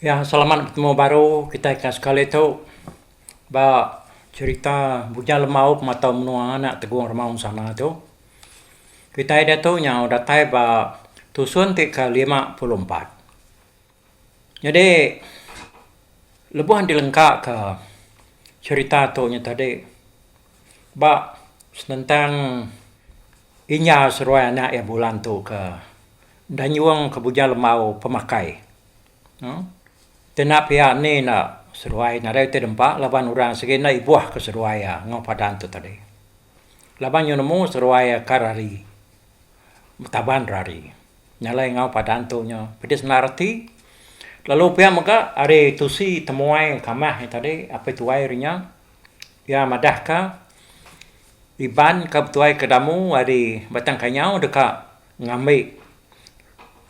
Ya selamat betemu baru kitai ka sekali tu ba cerita bujang lemaup matau menua anak Tegong Remaun sana tu. Kitai diatu nyau datai ba tusun ti ke lima puluh empat. Jadi lebuh dilengka ka cerita tu nya tadi ba senentang Inya seruai anak iya Bulan tu ke enda nyuang ke buja lembau pemakai. Kena pia ni enda seruai nadai reti dempa laban orang segi enda ibuh ke seruai iya enggau padan tu tadi. Laban nyau nemu seruai iya ka rari betaban rari nyalai enggau padan tu nya pidis enda reti. Lalu pia mega ari tusi temuai kamah iya tadi apai tuai ri nya. Iya madahka, Iban ke betuai ke damu ari Batang Kanyau deka ngambi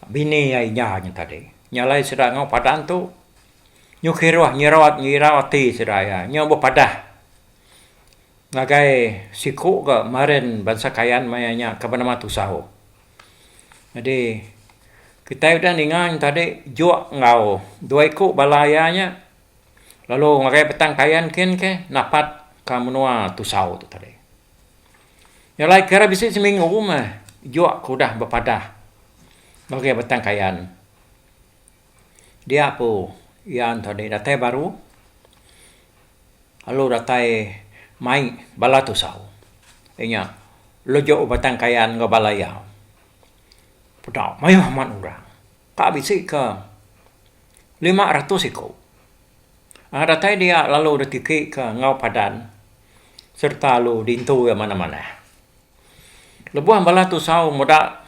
bini iya inya nya tadi. Nya alai sida enggau padan tu nyuh kiruh nyiraut ngirau ati sida iya. Nyau bepadah ngagai siku ke meren bansa Kayan maya nya ke benama Tusau. Jadi kitai udah ninga nya tadi juk enggau dua iku bala iya nya. lalu ngagai petang kayan kin ke napat ka menua tusau tu tadi. Nya alai kira bisi seminggu meh juk aku udah bepadah ngagai petang kayan. Dia ku iya ento deh datai baru lalu datai mai bala tusau iya nya lejok betang kayan enggau bala iya. Peda mayuh amat orang. Ka bisi ke lima ratus iku. Anga datai dia lalu deh tiki ke enggau padan sereta lalu dintu iya manah-manah. Lebuh bala tusau muda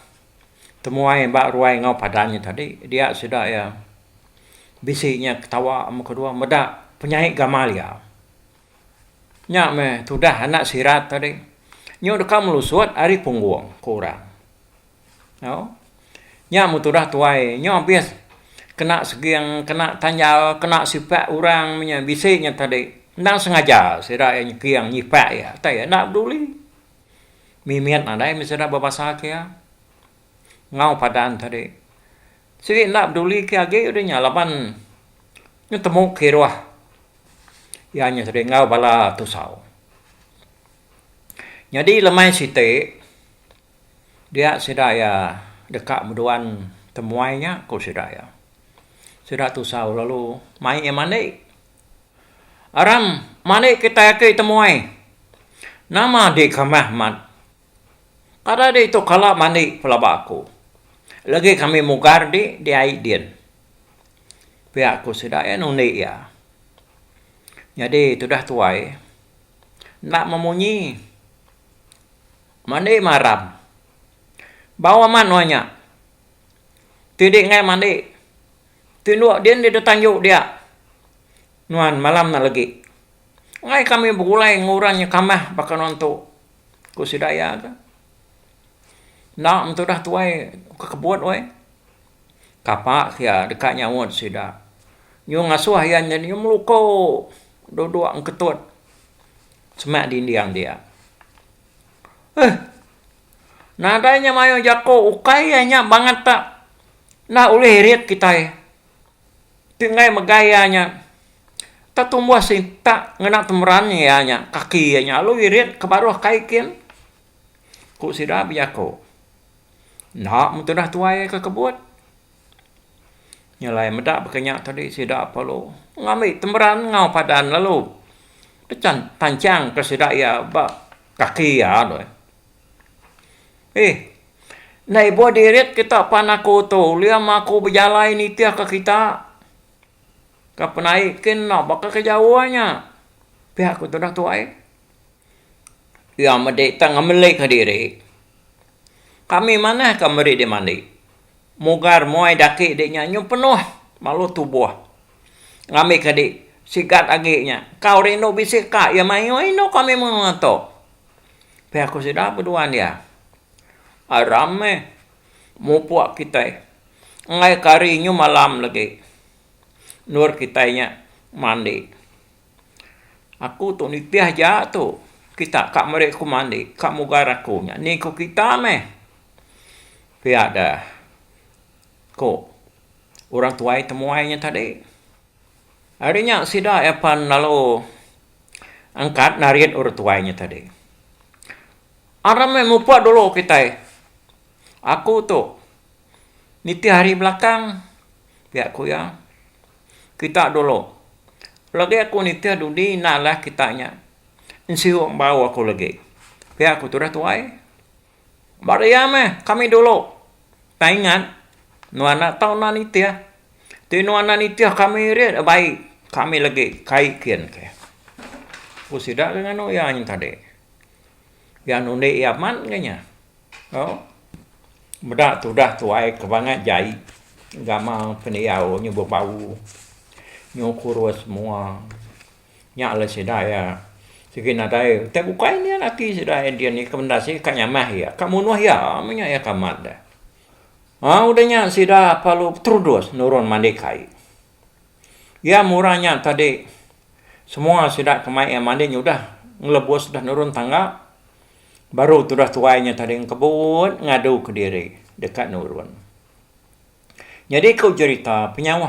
temuai ba ruai enggau padan nya tadi, dia sida iya bisi nya ketawa amu kedua meda penyai gamal iya. Nya meh tudah anak sirat tadi. Nyu deka melusut ari punggung, ku orang. Nya meh tudah tuai nyo abis kena seging kena tanjal kena sipak orang menya bisi nya tadi endang sengaja sida iya nyekeng nyipak iya tei iya enda peduli mimit nadai men sida bebasa ke iya enggau padan tadi sigi enda peduli ke agi udih nya laban betemu kiruh iya nya tadi enggau bala tusau jadi lemai siti. Dia sida iya deka meduan temuai nya, ku sida iya. Sida tusau lalu mai iya mandi. Aram, mandi kitai aki temuai. Nama di kamah mat? Kada ditu kala mandi pelaba aku. Lagi kami mugar di di ai din. Pia ku sida iya nundi iya. Nyadi tudah tuai enda memunyi. Mandi maram. Bau amat nuan nya. Ti di ngai mandi. Ti nduk din di detang juk dia. Nuan malam na legi. Ngai kami begulai ngan orang nya kamah baka nuan tu. Ku sida iya ka. Enda mentu udah tuai ke kebut weh. Kapa ke iya deka nyaut sida. Nyu ngasuh iya nya nyu meluko duduk ngketut semak dinding dia. Nadai nya mayuh jako ukai iya nya bangat ta enda ulih irit kitai ti enggai mega iya nya ta tumbuh sintak ngena temeran iya nya kaki iya nya lalu irit ke baruh kai kin ku sida bejako enda mun tudah tuai ke kebut. Nyelai meda baka nya tadi sida perlu ngambi temeran enggau padan lalu penchan panchang ka sida iya ba kaki iya deh. Eih enda ibuh dirit kita pan aku tu uliam aku bejalai nitih ka kita ka penai kin enda baka ke jauh nya. Pia ku tudah tuai. Iya medi tang ngemeli ka diri. Kami manah ka meri dimandi. Mugar muai daki dik nya nyuh penuh malu tubuh ngambi ka dik sigat agi nya engkau rindu bisi ka iya mayuh inu kami menua tu pia ku sida beduan iya aram meh mupuk kitai enggai ke hari nyuh malam lagi endor kitai nya mandi. Aku tu nitih ja tu kita ka meri aku mandi ka mugar aku nya ni ku kita meh pia da ku orang tuai temuai nya tadi ari nya sida iya pan lalu angkat narit orang tuai nya tadi aram meh mupa dulu kitai aku tu nitih ari belakang pia ku iya. kita dulu. Lagi aku nitih dudi enda alah kita nya. Ensiu embau aku lagi. Pia aku tudah tuai. Ba dia meh kami dulu. Tang ingat nuan enda tau enda nitih. Ti nuan enda nitih kami iri dak baik. Kami lagi kai kin ke. Ku sida ke nganu iya nyentadi. Iya nundi iya amat ga nya. Meda tudah tuai ke bangat jai gamal pendiau nyebut bau nyu kurus mua nya le sida iya sigi nadai tai bukai nian ati sida dia ni ka nyamah iya ka munuh iya meh nya iya ka amat deh. Au deh nya sida lalu beterudus nurun mandi kai. Iya murah nya tadi semua sida ke mai iya mandi nya udah ngelebus udah nurun tangga baru tudah tuai nya tadi engkebut ngadu ke diri deka nurun. Nyadi ku jerita penyauh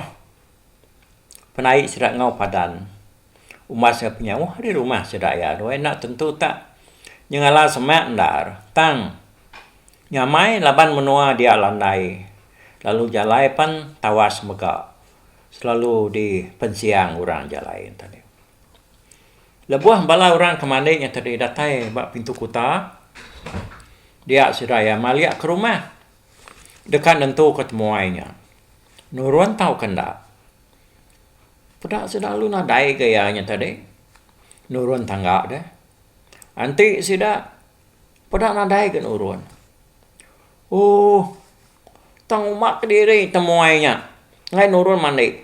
penai sida enggau padan umbas iya penyauh ari rumah sida iya doi enda tentu tak nyengala semak endar tang nyamai laban menua dia landai lalu jalai pan tawas mega. selalu di pensiang orang ja lain tadi. Lebuh bala orang ke mandi nya tadi datai ba pintu kuta dia sida iya malia ke rumah deka nentuka temuai nya nurun tauka enda. Peda sida lalu nadai ga iya nya tadi nurun tangga deh. Enti sida peda nadai ga nurun. Ooh. Tang uma kediri temuai nya enggai nurun mandi.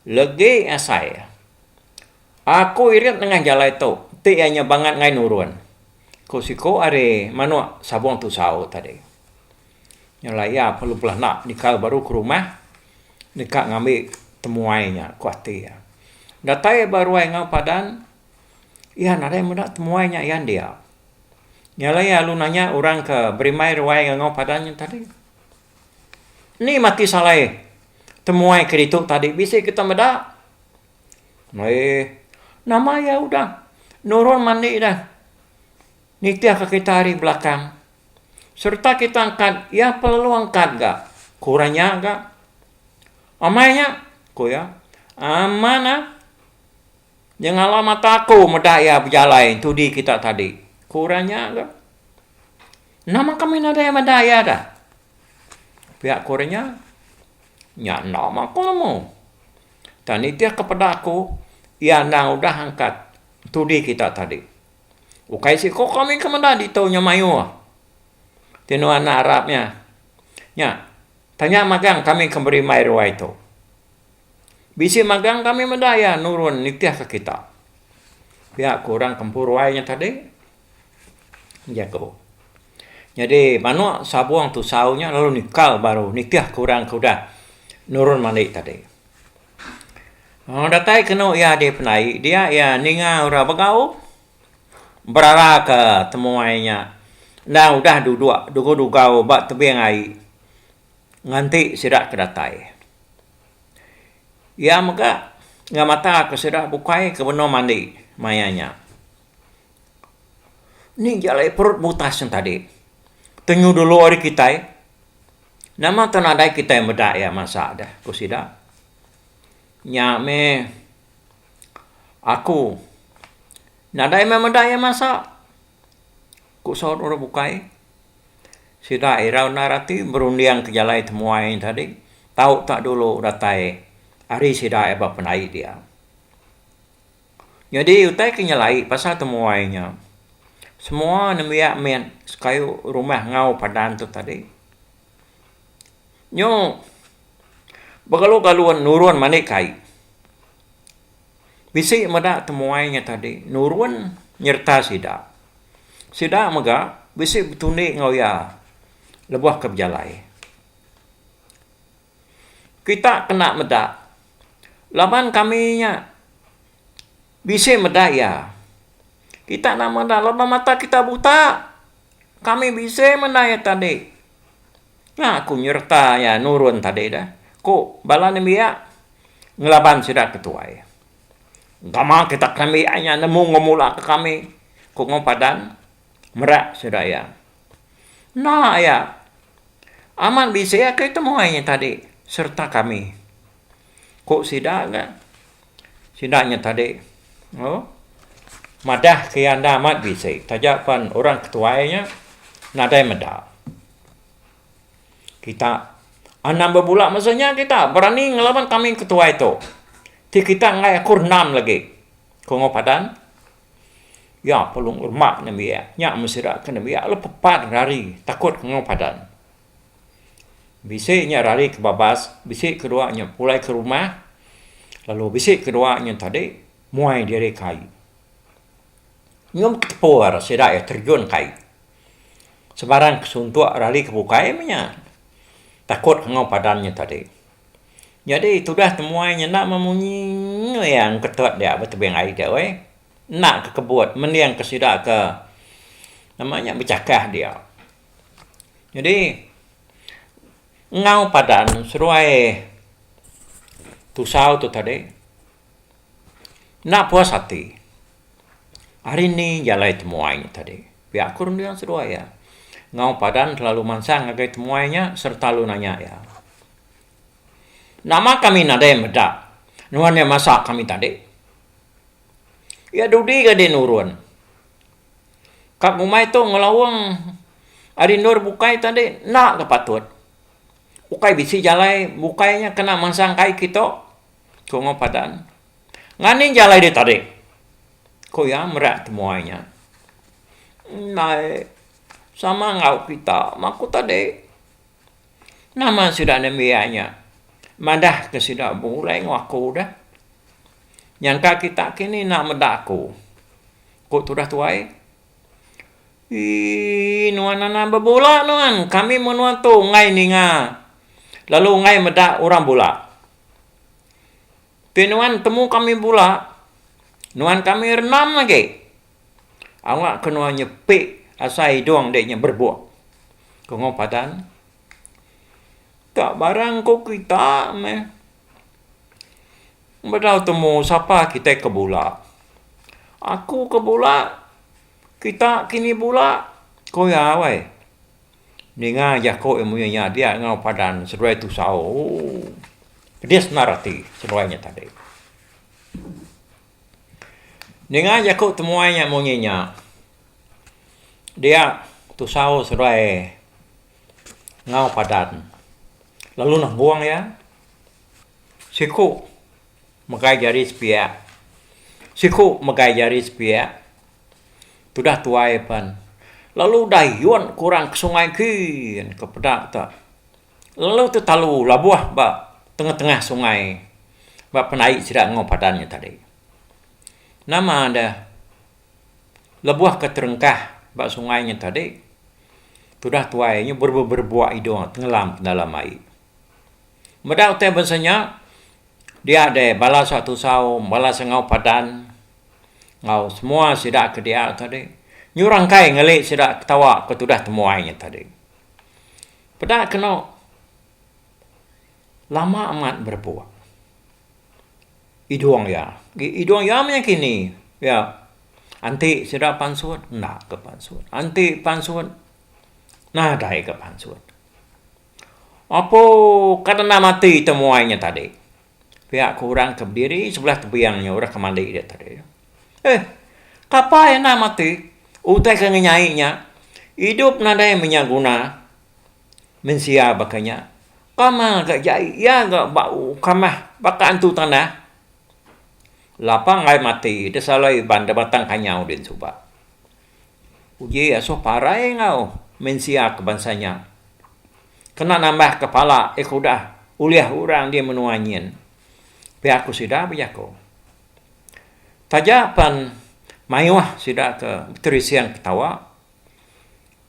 Legi asai iya. Aku irit nengah jalai tu, enti iya nya bangat enggai nurun, ku siku ari manuk sabung tusau tadi. Nya alai iya perlu belanda dikau baru ke rumah deka ngambi temuai nya, ku ati iya. Datai ba ruai enggau padan, iya nadai meda temuai nya iya dia. Nya alai lalu nanya orang ke berimbai ruai enggau padan nya tadi. Ni mati salai temuai ke ditu tadi bisi kita meda. Eih nama iya udah nurun mandi dah nitih ke kita ari belakang sereta kita angkat iya pa lalu angkat ga ke orang nya ga. Amai nya ku iya aman ah. Nyengala mata aku meda iya bejalai entudi kita tadi, ku orang nya tu. Nama kami nadai meda iya da? Pia ku orang nya. Nya enda mah aku nemu. Tang nitihka peda aku, iya endang udah angkat entudi kita tadi. Ukai siko kami ke meda ditu nya mayuh ti nuan arap nya. Nya, tanya magang kami ke berimbai ruai tu. Bisi magang kami meda iya nurun nitihka kita, pia ku orang Kempuruai nya tadi, jaku. Nyadi manuk sabung tusau nya lalu nikal baru nitihka orang ke udah nurun mandi tadi. Wang datai kenu iya di pendai dia iya ninga orang begau beraraka temuai nya endang udah duduk dugau-dugau ba tebing ai. Nganti sida ke datai. Iya mega ngamataka sida bukai ke benung mandi maya nya. Ni ja alai perut butas nya tadi. Tenyu dulu ari kitai. Nama ke nadai kitai meda iya mansa deh, ku sida. Nya meh aku nadai meh meda iya mansa. Ku saut orang bukai, sida irau endar ati berunding ke jalai temuai nya tadi tau tak dulu datai ari sida eba penai dia. Nyadi utai ke nyelai pasal temuai nya semua nembiak mih sekayu rumah enggau padan tu tadi nyu bekalu-kalu nurun mani kai. Bisi meda temuai nya tadi nurun nyereta sida. Sida mega bisi betundi enggau iya lebuh ke bejalai. Kita kena meda laban kami nya bisi meda iya. Kita enda meda laban mata kita buta. Kami bisi meda iya tadi. Nya aku nyereta iya nurun tadi dah, ku bala nembiak ngelaban sida ke tuai. Engkama kita ke nembiak ai nya nemu enggau mula ke kami, ku Ngau Padan merak sida iya. Enda iya amat bisi agi temuai nya tadi sereta kami, ku sida ga. Sida nya tadi madahka iya enda amat bisi taja pen orang ke tuai nya nadai meda. Kita anang bebula masa nya kita berani ngelaban kambing ke tuai tu. Ti kita enggai akur endam lagi. Ku Ongoi Padan. Nya pelung remak nembiak. Nya meh sida ke nembiak le pepat rari takut ke Ongoi Padan. Bisi nya rari ke babas, bisi ke dua nya pulai ke rumah lalu bisi ke dua nya tadi muai diri ke ai. Nyom ke tepur sida iya terjun ke ai. Sebarang ke suntuk rali ke bukai meh nya takut enggau padan nya tadi. Nyadi tudah temuai nya enda meh munyi iya ngeketet dia ba tebing ai dia weh. Enda ke kebut mending ke sida ke nama nya bechakah dia. Nyadi enggau padan seduai tusau tu tadi. Enda puas ati. Ari ni jalai temuai nya tadi. Pia aku nending seduai iya. Enggau padan selalu mansang ngagai temuai nya sereta lalu nanya iya. Nama kami nadai meda nuan iya masak kami tadi? Iya dudi ga deh nurun. Ka ngumbai tu ngelaung ari endur bukai tadi enda ga patut. Ukai bisi jalai bukai nya kena mansang kai kita. Ku Enggau Padan. Nganing jalai ditarik. Ku iya merat temuai nya. Ndai sama enggau kita maku tadi. Nama sida nembiak nya madahka sida bulai enggau aku dah. Nyangka kita kini enda meda aku. Ku tudah tuai. Ii nuan anang bebula nuan. Kami menua tu enggai ninga lalu enggai meda orang bula. Tapi nuan temu kami bula, nuan kami renam agi. Awak ke nuan nyepi asai idung dek nya berebuk. Tunggu padan. Ka barang ku kita meh. Bedau temu sapa kita ke bula. Aku ke bula, kita kini bula, ku iya weh. Ninga jako iya munyi nya dia enggau padan seduai tusau ooh pedis endar ati seduai nya tadi. Ninga jako temuai nya munyi nya dia tusau seduai enggau padan lalu nembong iya siku. Megai jari sepiak. Siku megai jari sepiak tudah tuai pan lalu dayun ke orang ke sungai gin ke peda tu. Lalu tetalu labuh ba tengah-tengah sungai ba penai sida enggau padan nya tadi. Nama deh lebuh ke terengkah ba sungai nya tadi tudah tuai nya berebua-berebua idung tengelam dalam ai. Meda utai bansa nya Dia deh bala suak tusau, bala sengau padan enggau semua sida ke dia tu deh nyurang kai ngelik sida ketawa ke tudah temuai nya tadi. Peda keno lama amat berepok idong iya, idong iya meh kini iya enti sida pansut enda ke pansut, enti pansut nadai ke pansut. Apo ka dendam ati temuai nya tadi? pia ku orang ke bediri sebelah tebing nya udah ke mandi dia tadi. Eh, kapa iya endam ati? utai ke ngenyai nya, idup nadai menya guna mensia baka nya, kama ga jai iya ga ba kamah baka antu tanah, lapang ai mati desalai iban da batang kanyau din suba. Uji Asuh parai enggau mensia ke bansa nya kena nambahka pala eko udah ulih orang di menua nyin, pia ku sida bejaku. Taja pen mayuh sida ke beterising ketawa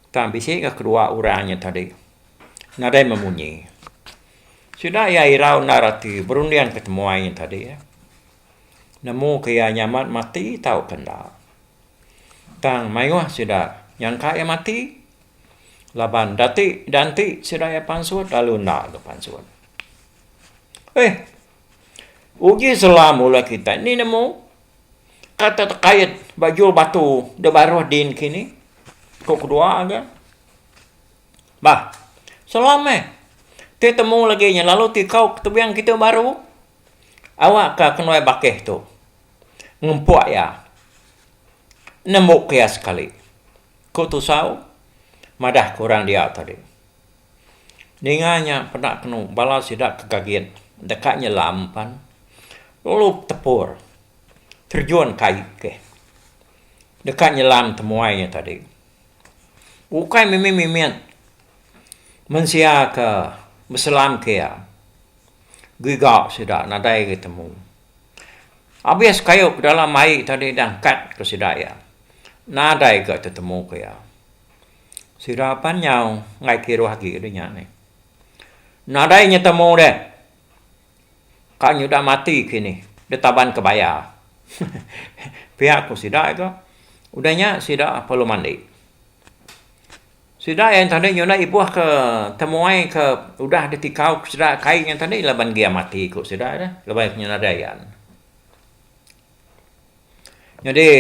tang bisi enggau kedua orang nya tadi nadai memunyi. Sida iya irau endar ati berundingka temuai nya tadi. nemu ke iya nyamat mati tauka enda. Tang mayuh sida nyangka iya mati laban dati da enti sida iya pansut lalu enda ke pansut. Eih, uji sela mula kitai ni nemu ka tetekait ba jul batu da baruh din kini, ku kedua ga. Bah, sela meh, ti temu lagi nya lalu ti kau tebing kitai baru. Awakka kenuai bakih tu ngempuk iya nembuka iya sekali, ku Tusau madah ke orang dia tadi. Ninga nya peda kenu bala sida ke gagit deka nyelam pan lalu betepur terjun ke ai ke deka nyelam temuai nya tadi. Ukai mimit-mimit mensia ke beselam ke iya Giga sida nadai agi temu. Abis kayu pedalam ai tadi dah angkat ku sida iya. Nadai ga tetemu ku iya. Sida pan nyau enggai kiruh agi deh nya nih. Nadai nya temu deh. Ka nyudah mati kinih deh taban ke baya. Pia ku sida ga. Udah nya sida perlu mandi. Sida iya ntani nyunak ibuh ke temuai ke udah ditikau ke sida kai nya ntani laban giam ati ku sida nya laban iya nyunak nadai iya. Nyadi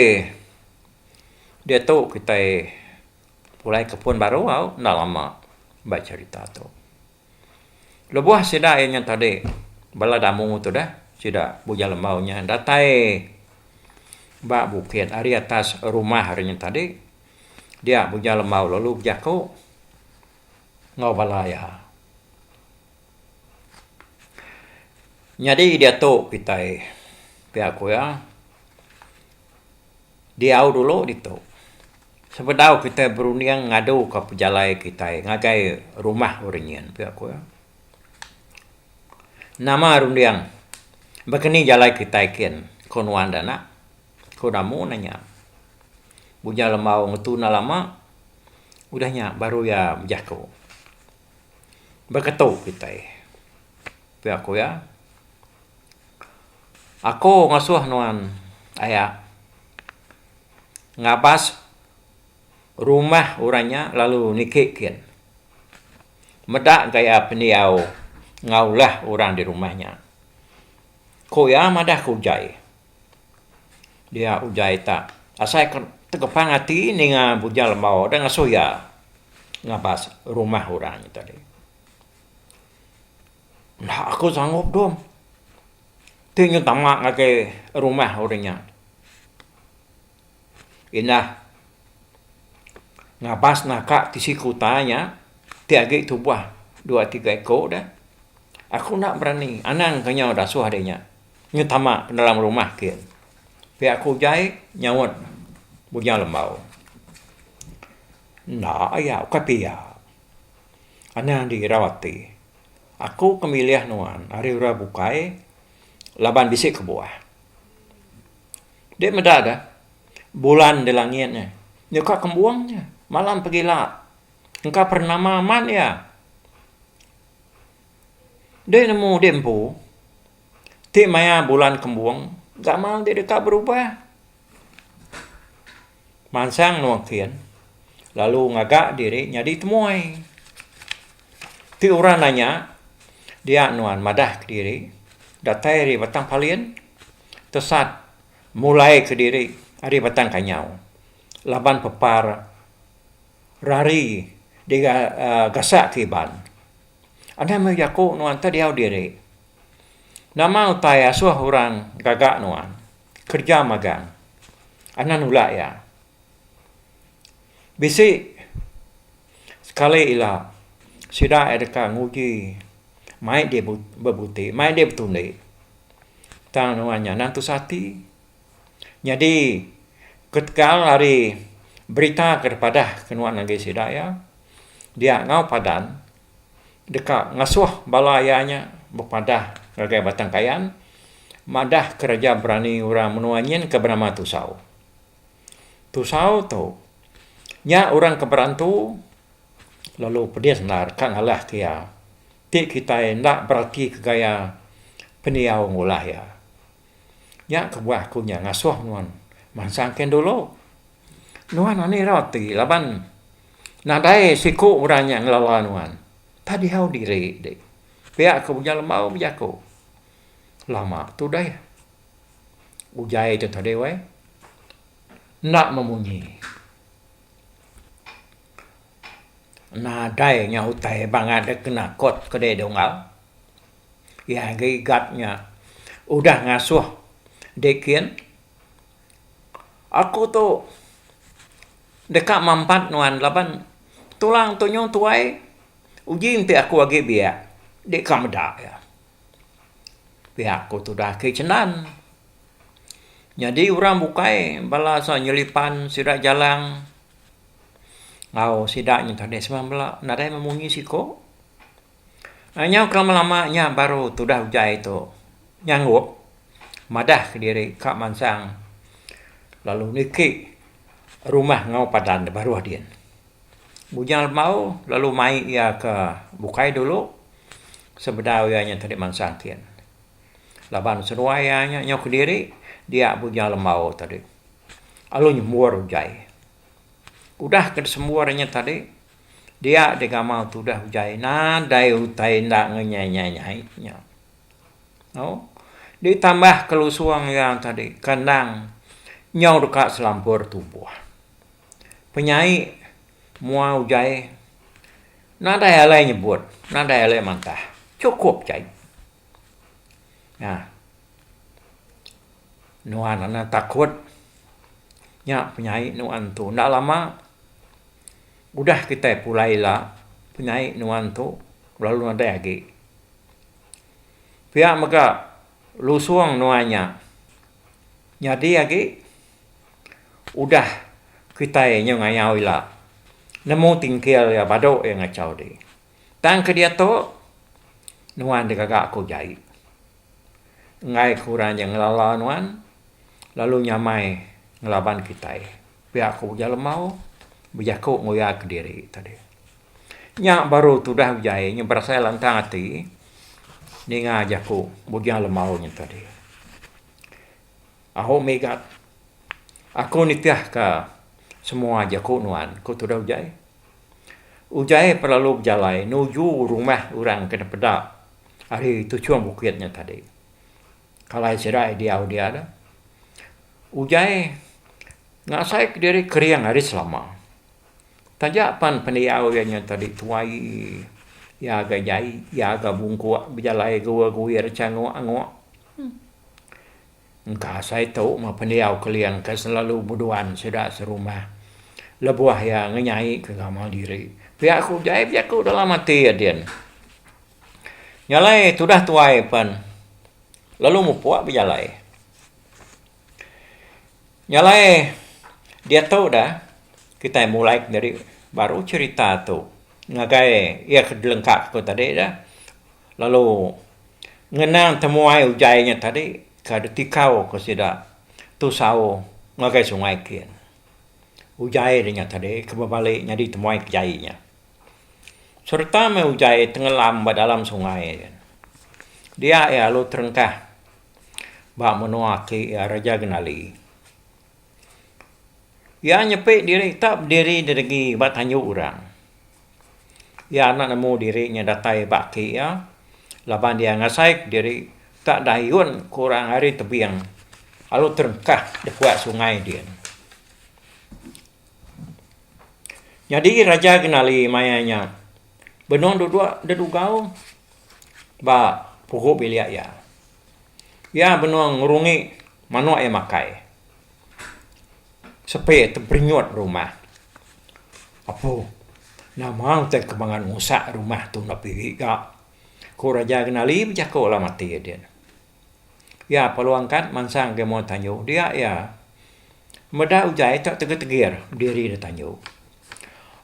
diatu kitai pulai ke pun baru au enda lama ba cherita tu. Lebuh sida iya nya tadi bala damu tu deh sida Bujang Lembau nya datai ba bukit ari atas rumah re nya tadi Dia Bujang Lembau lalu bejaku enggau bala iya, Nyadi diatu kitai, pia ku iya, diau dulu ditu. Sebedau kitai berunding ngaduka pejalai kitai ngagai rumah orang nyin, pia ku iya. Nama runding? Baka ni jalai kitai kin? ku nuan da nak. Ko Namu nanya. Bujang Lembau ngetu enda lama udah nya baru iya bejako. Beketu kitai. Pia ko iya. Ako ngasoh nuan aya ngabas rumah orang nya lalu niki kin. Meda gaya pendiau ngaulah orang di rumah nya. Ko iya madah ko jai. Dia uJai ta asai ke tegepang ati ninga bujang lembau deh ngesuh iya ngabas rumah orang nya tadi. Enda aku sangup dom ti nyun tama ngagai rumah orang nya. Indah ngabas naka tisi kuta nya ti agi tubah dua tiga iko deh aku enda berani anang ke nyau dasuh ari nya. Nya tama penerang rumah ke pia ku ujai nyaut Bujang Lembau. Enda iya ukai pia. Anang dirau ati. Aku ke milih nuan ari orang bukai laban bisi kebuah. Dek meda deh bulan di langit nya nyuka kembung nya malam pegila engka pernama amat iya. Deh nemu deh empu ti maya bulan kembung gamal ti deka berubah. Mansang endur engkin lalu ngaga diri nyadi temuai. Ti orang nanya dia nuan madah kediri datai ari batang palin tesat mulai kediri ari batang kanyau laban pepar rari diga gasak ke iban. Anang meh jaku nuan teh diau diri. Nama utai asuh orang gaga nuan kerja magang? Anang nulak iya. Bisi sekali ila sida iya deka nguji mai diri bebuti, mai diri betundi tang nuan nya anang tusah ati. Nyadi ketegal ari berita ke dipadah ke nuan agi sida iya dia enggau padan deka ngesuh bala iya nya bepadah ngagai Batang Kayan madah kereja berani orang menua nyin ke benama Tusau. Tusau tu nya orang ke berantu lalu pedis endar ka ngalah ke iya. Ti kitai enda beratika gaya pendiau ngundah iya. Nya kebuah aku nya ngasuh nuan mansang kendulu. Nuan anih irau ati laban nadai siku orang nya ngelala nuan. Tah diau diri dih. Pia ke Ujang Lembau bejaku. Lama tu deh ujai tu tadi weh. Enda memunyi. Nadai nya utai bangat deh kena kot ke diri dua unggal. Iya ngagai guard nya, udah ngasuh deh kin, aku tu deka mampat nuan laban tulang tu nyuh tuai, uji enti aku agi biak, deka meda iya. Pia aku tu udah agi chendan. Nyadi orang bukai bala saw nyelipan sida jalang enggau sida nya tadi semua bala nadai meh munyi siko. Nyau ke melama nya baru tudah utai tu nyangguk madah kediri ka mansang lalu niki rumah enggau padan da baruh din. Bujang lembau lalu mai iya ke bukai dulu sebedau iya nya tadi mansang kin. Laban seduai iya nya nyau kediri dia bujang lembau tadi lalu nyembur utai. Udah ke disembur iya nya tadi. Dia di gamal tudah ujai nadai utai enda ngenyai-nyai nya. Au. Ditambah kelusung iya tadi kandang nyau deka selampur tubuh. Penyai mua ujai nadai alai nyebut, nadai alai mantah. Chukup ja ai. Nah. Nuan anak takut nya penyai nuan tu enda lama udah kitai pulai ila penyai nuan tu lalu nadai agi. Pia mega lusung nuan nya nyadi agi udah kitai nyu ngayau ila nemu tingkil iya badu iya ngachau diri. Tang ke diatu, nuan ti gaga aku jai. Enggai ke orang ja ngelala nuan lalu nyamai ngelaban kitai pia ku Ujan Lemau bejaku nguyaka diri tadi. Nya baru tudah ujaie nya berasai lantang ati ninga jaku Ujan Lemau nya tadi. Aku mega aku nitihka semua jaku nuan ku tudah ujaie. Ujaie pelalu bejalai nuju rumah orang ke dipeda ari tuchung bukit nya tadi. Kalai sida ideau dia dah. Ujaie ngasai ke diri kering ari selama. Taja pan pendiau iya nya tadi tuai, iya ga jai, iya ga bungkuk bejalai ga guir-guir cha ngok-ngok. Engka asai tu meh pendiau Keling ke selalu beduan sida serumah lebuh iya ngenyaika gamal diri. Pia ku jai bejaku dalam ati iya din. Nya alai tudah tuai pen lalu mupuk bejalai. Nya alai diatu dah kitai mulai nyadi baru cherita tu ngagai iya ke dilengkap ku tadi dah. Lalu, ngenang temuai ujai nya tadi ke ditikau ke sida tusau ngagai sungai kin. Ujai nya tadi ke bebali nyadi temuai ke jai nya. Sereta meh ujai tengelam ba dalam sungai nya. Dia iya lalu terengkah ba menua aki iya Raja Genali. Iya nyepi diri tak bediri didegi ba tanju orang. Iya enda nemu diri nya datai ba aki iya laban iya ngasai diri ka dayun ke orang ari tebing lalu terengkah da puak sungai din. Nyadi raja kenali maya nya benung duduk da dugau ba pugu bilik iya. Iya benung ngerungi manuk iya makai. Sepe teperenyut rumah. Apo nama utai ke mangan usak rumah tu enda piri ga. Ku Raja Kenali bejako lalu mati dia. Iya peluang kad mansang ke muat tanju dia iya meda ujai tok tegir-tegir diri dia tanju.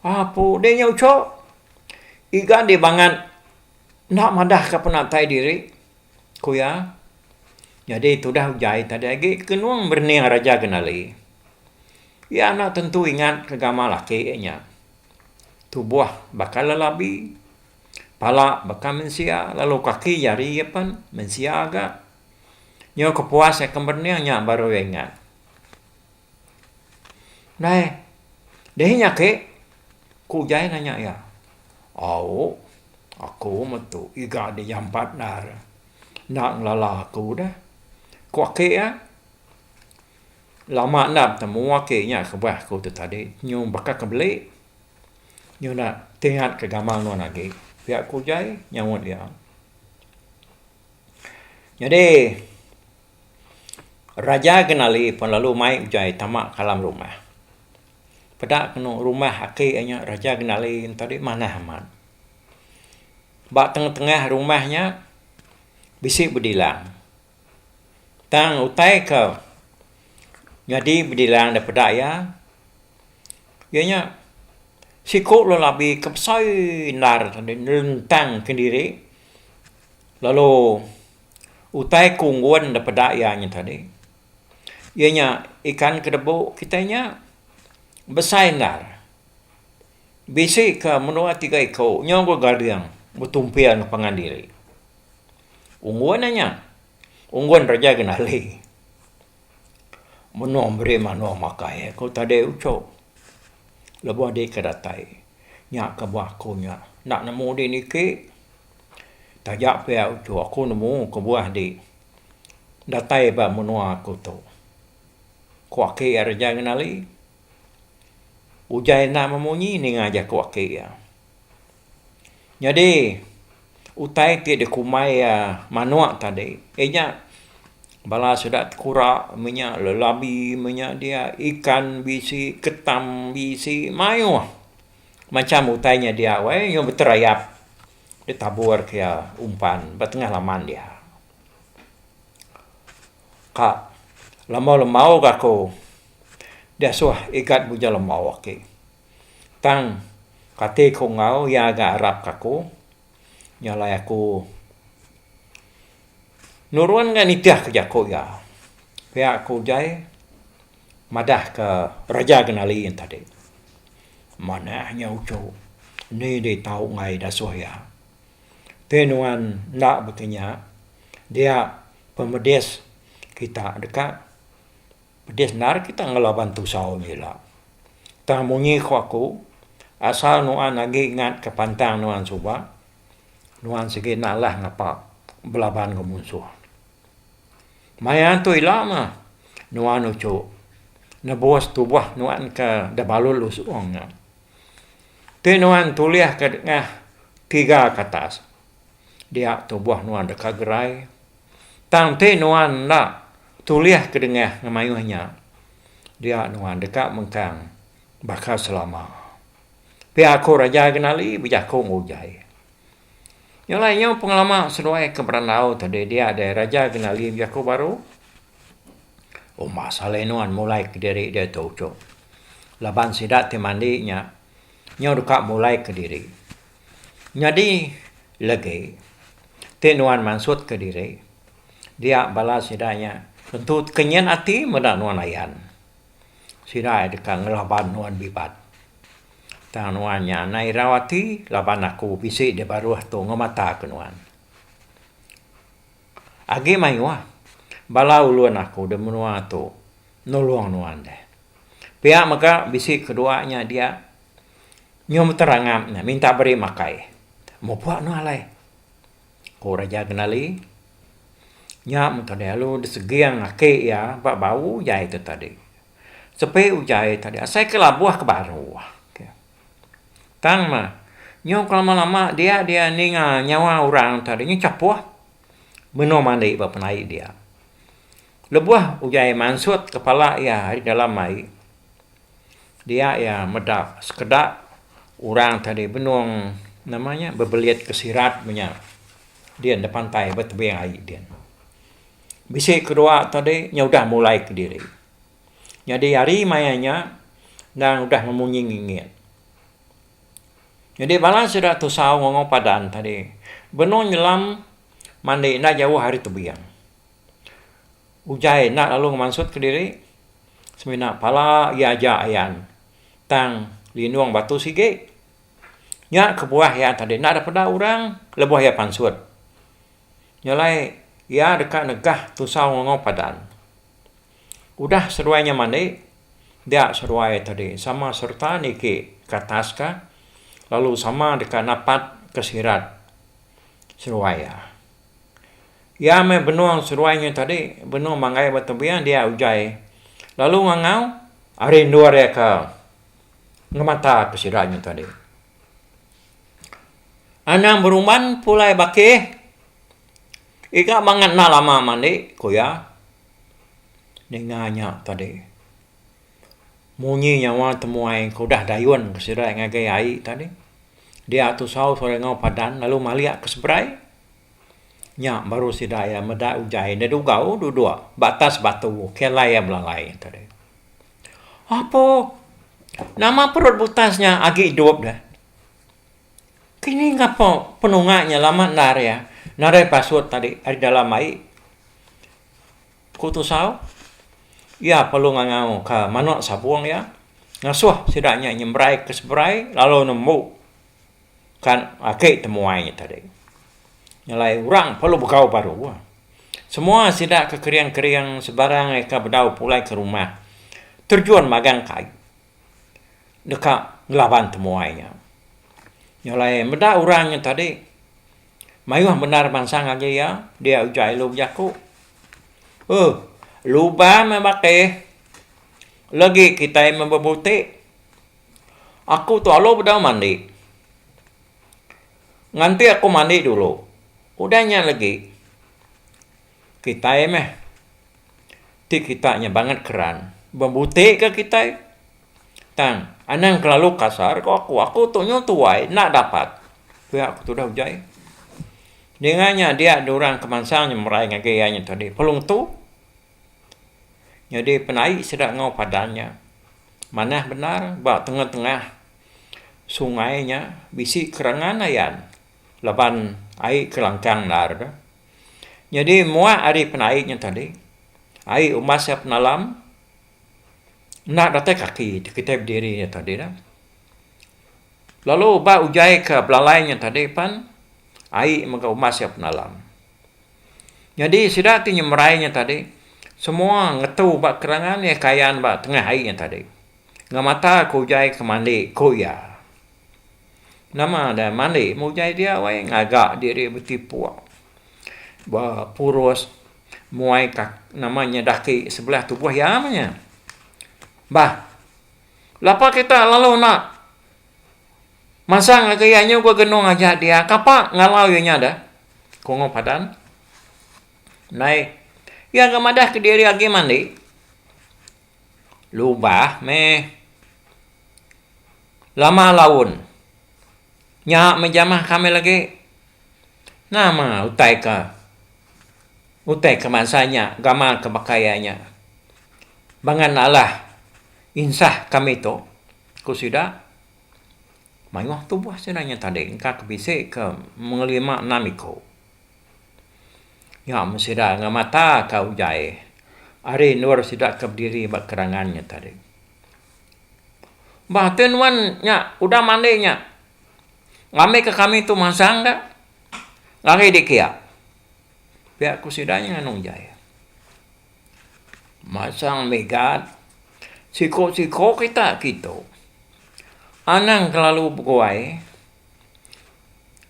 Apo deh nya ucho iga deh bangat enda madah ke penatai diri ku iya. Nyadi tudah ujai tadi agi kenung berening Raja Genali. Iya enda tentu ingat ke gamal laki iya nya. Tubuh baka lelabi, pala baka mensia lalu kaki jari iya pen mensia ga. Nyau kepuas iya ke berening nya baru iya ingat. Nai dihi nya ake ku ujai nanya iya. Au aku metu iga dijampat enda re. Enda ngelala aku dah. Ku ake iya, lama enda betemu ake iya nya kebah aku ti tadi. Nyuh baka ke beli, nyuh enda ti ngat ke gamal nuan agi. Pia ku ujan nyaut iya. Nyadi, Raja Genali pun lalu mai ujan tama ka dalam rumah. Peda penu rumah ake iya nya Raja Genali tadi manah amat. Ba tengah-tengah rumah nya bisi bedilang. Tang utai ke nyadi bedilang daripada iya, iya nya siku lelabi ke besai endar tadi nelentang kendiri lalu utai ke unggun daripada iya nya tadi iya nya ikan ke debu kitai nya besai endar. Bisi ka menua tiga iku nyau enggau Gading betumping pangan diri. Unggun iya nya. Unggun Raja Genali. Menua meri menua makai iya ku tadi uchu. Lebuh adi ke datai nya ke bah aku nya enda nemu di niki. Taja pia uchu aku nemu kebuah di datai ba menua aku tu. Ku aki iya Raja Genali. Ujan enda memunyi ninga jaku aki iya. Nyadi utai ti dikumbai iya manuk tadi inya bala sida kura menya lelabi menya dia ikan bisi ketam bisi mayuh macam utai nya dia weh nya beterayap ditabur ke iya umpan ba tengah laman dia. Ka. Lama lemau ga aku diasuh igat muja lemau aki. Tang kati ku enggau iya ga arap ka aku nya alai aku nurun ga nitih ka jaku iya. Pia ku uJai madah ka Raja Genali yen tadi. Manah nya uchu eni di tau ngai dasuh iya. Ti nuan enda baka nya dia pemedis kita deka pedis enda ari kita ngelaban tusau aja ila. Tang munyi ku aku asal nuan agi ingat ke pantang nuan suba nuan sigi enda alah ngapa belaban enggau munsuh. Maya tu ila mah nuan uchu nebus tubah nuan ke da balul usung nya ti nuan tulih ka dengah tiga ka atas Dia tubuh nuan deka gerai, tang ti nuan enda tulih kedengah ngemayuh nya, dia nuan deka mengkang baka selama. Pia aku Raja Genali bejaku enggau Ujai. Nya alai nyau pengelama seduai ke berandau ti deh dia deh Raja Genali bejaku baru. Umbas alai nuan mulai kediri diatu uchup. Laban sida ti mandi nya nyau deka mulai kediri. Nyadi legi, ti nuan mansutka diri, dia bala sida nya tentu kenyan ati meda nuan ayan. Sida iya deka ngelaban nuan bibat. Tang nuan nya anang irau ati laban aku bisi di baruh tu ngemataka nuan. Agi mayuh bala ulun aku da menua tu nulung nuan deh. Pia mega bisi kedua nya dia. Nyau meter angap nya minta beri makai. Mupok anu alai. Ku Raja Kendali. Nya meh tadi lalu diseging aki iya ba bau ujai tu tadi. Sepi ujai tadi asai ke labuh ke baru. Tang meh nyau ke lama-lama dia dia ninga nyawa orang tadi nya chapoh benung mandi ba penai dia. Lebuh ujai mansut kepala iya ari dalam ai. Dia iya meda sekeda orang ti ari benung nama nya bebelit ke sirat meh nya din da pantai ba tebing ai din. Bisi kedua tadi nya udah mulai kediri. Nyadi hari maya nya nang udah memunyi ngingit. Nyadi bala sida tusau ngongou padan tadi benung nyelam mandi enda jauh ari tebing. Ujai enda lalu ngemansut kediri. semina pala iya aja ayan tang linung batu sigi. Nya kebuah iya tadi enda ada peda orang lebuh iya pansut. Nya alai iya deka negah tusau ngongou padan. Udah seduai nya mandi, dia seduai tadi sama sereta niki ke atas ka lalu sama deka napat ke sirat seduai iya. Iya meh benung seruai nyu tadi, benung manggai ba tebing dia ujai lalu ngangau. Ari endur iya ke ngemata ke sida nyu tadi. Anang berumban pulai bakih iga bangat enda lama mandi, ku iya. Ninga nya tadi munyi nyawa temuai ke udah dayun ke sida ngagai ai tadi. Dia tusau serengau padan lalu malik ke seberai. Nya baru sida iya meda ujai enda dugau duduk ba atas batu ke alai iya belalai ento deh. Apo nama perut butas nya agi idup deh. Kini ngapo penunga nya lama endar iya nadai pasut tadi ari dalam ai. Ku Tusau, iya perlu ngangau ke manuk sabung iya ngasuh sida nya nyemberai ke seberai lalu nembu Kan agi temuai tadi. Nyelai orang perlu begau baru. Semua sida ke kering-kering sebarang eka bedau pulai ke rumah terjun magang kai deka ngelaban temuai nya. Nyelai meda orang nya tadi mayuh bendar mansang agi iya dia uja ilu bejaku. Uh luban meh bakeh legi kitai meh bebuti. Aku tu alu bedau mandi. Nganti aku mandi dulu. Udah nya legi, kitai meh ti kita nya bangat keran bembutika kitai. Tang, anang kelalu kasar ko aku. Aku tu nyau tuai, enda dapat, ku iya ke tudah ujai. Dinga nya dia dua orang ke mansang nya merai ngagai iya nya tadi, Pelung tu, Nyadi penai sida enggau padang nya manah bendar ba tengah-tengah sungai nya bisi kerengan ayan laban ai ke langkang endar tu nyadi mua ari penai nya tadi ai umas iya penalam enda datai kaki kitai bediri nya tadi lah lalu ba ujaika belalai nya tadi pan ai mega umas iya penalam. Nyadi sida ti nyemerai nya tadi semua ngetu ba keterangan iya kayan ba tengah hari nya tadi ngemata ke ujaie ke mandi ku iya. Nama deh mandi meh ujaie dia wai ngaga diri betipuk ba purus muai kaki nama nya daki sebelah tubuh iya meh nya. Bah lapa kita lalu enda. Masang laga iya nyu ba genung aja dia kapa ngalau iya nya dah. Kungup Adan. Nai. Iya ga madah ke diri agi mandi. Lubah meh. Lama laun. Nya meh jamah kami lagi. Nama utai ka. Utai ka bansa nya gamal ka baka iya nya. Bangan alah insah kami tu. Ku sida, mayuh tubuh sida nya tadi engka ke bisi ke mengelima enam iku. Nya men sida ngemata ka ugai ari endur sida ke bediri ba kerangan nya tadi. Bah tu nuan nya udah mandi nya ngambika kami tu mansang ka ngagai dikia. Pia ku sida nya nganu ugai. Masang mega siko-siko kita kitu anang kelalu beguai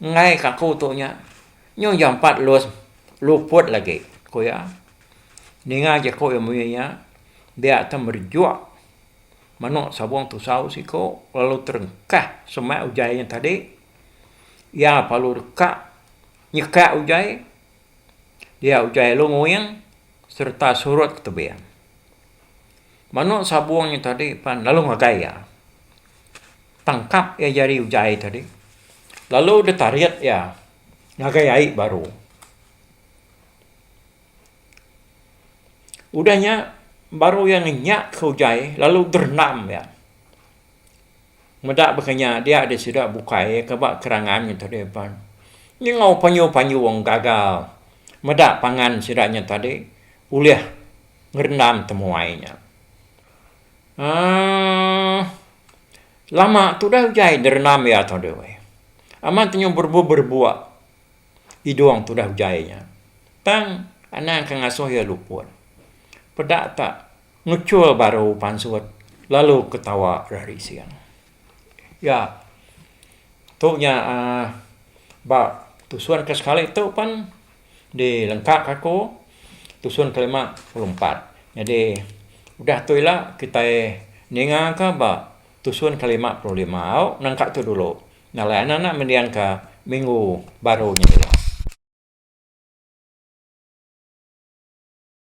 enggai kaku tu nya nyu jampat los luput lagi ku iya ninga jaku iya munyi nya dia akan merejuk menu sabung tusau siko lalu terengkah semak ujan nya tadi iya lalu deka nyeka ujan dia utai alu nguing sereta surut ke tebing. Manu sabung nya tadi pan lalu ngagai iya, tangkap iya jari utai tadi lalu deh tarit iya ngagai ai baru. Udah nya baru iya ngenyak ke utai lalu deh rendam iya. Meda baka nya dia deh sida bukai ka ba kerangan nya tadi pan. Nyengau panyu-panyu wang gagal meda pangan sida nya tadi ulih ngerendam temuai nya. Aaa lama tudah ujai derendam ia tadi weh. Amat nyu berebuk-berebuk idung tudah ujai nya. Tang anang ke ngasuh ia luput. Peda tak. Ngechul baru pansut lalu ketawa rari sing. Ya, tu nya aaa ba tusun ke sekali tu pen di lengka ka ku tusun ke lima pulu empat. Nyadi udah tu ila kitai ninga ka ba tusun ke lima pulu lima au nengka tu dulu. Nya alai anak anak mending ka minggu baru nya ila.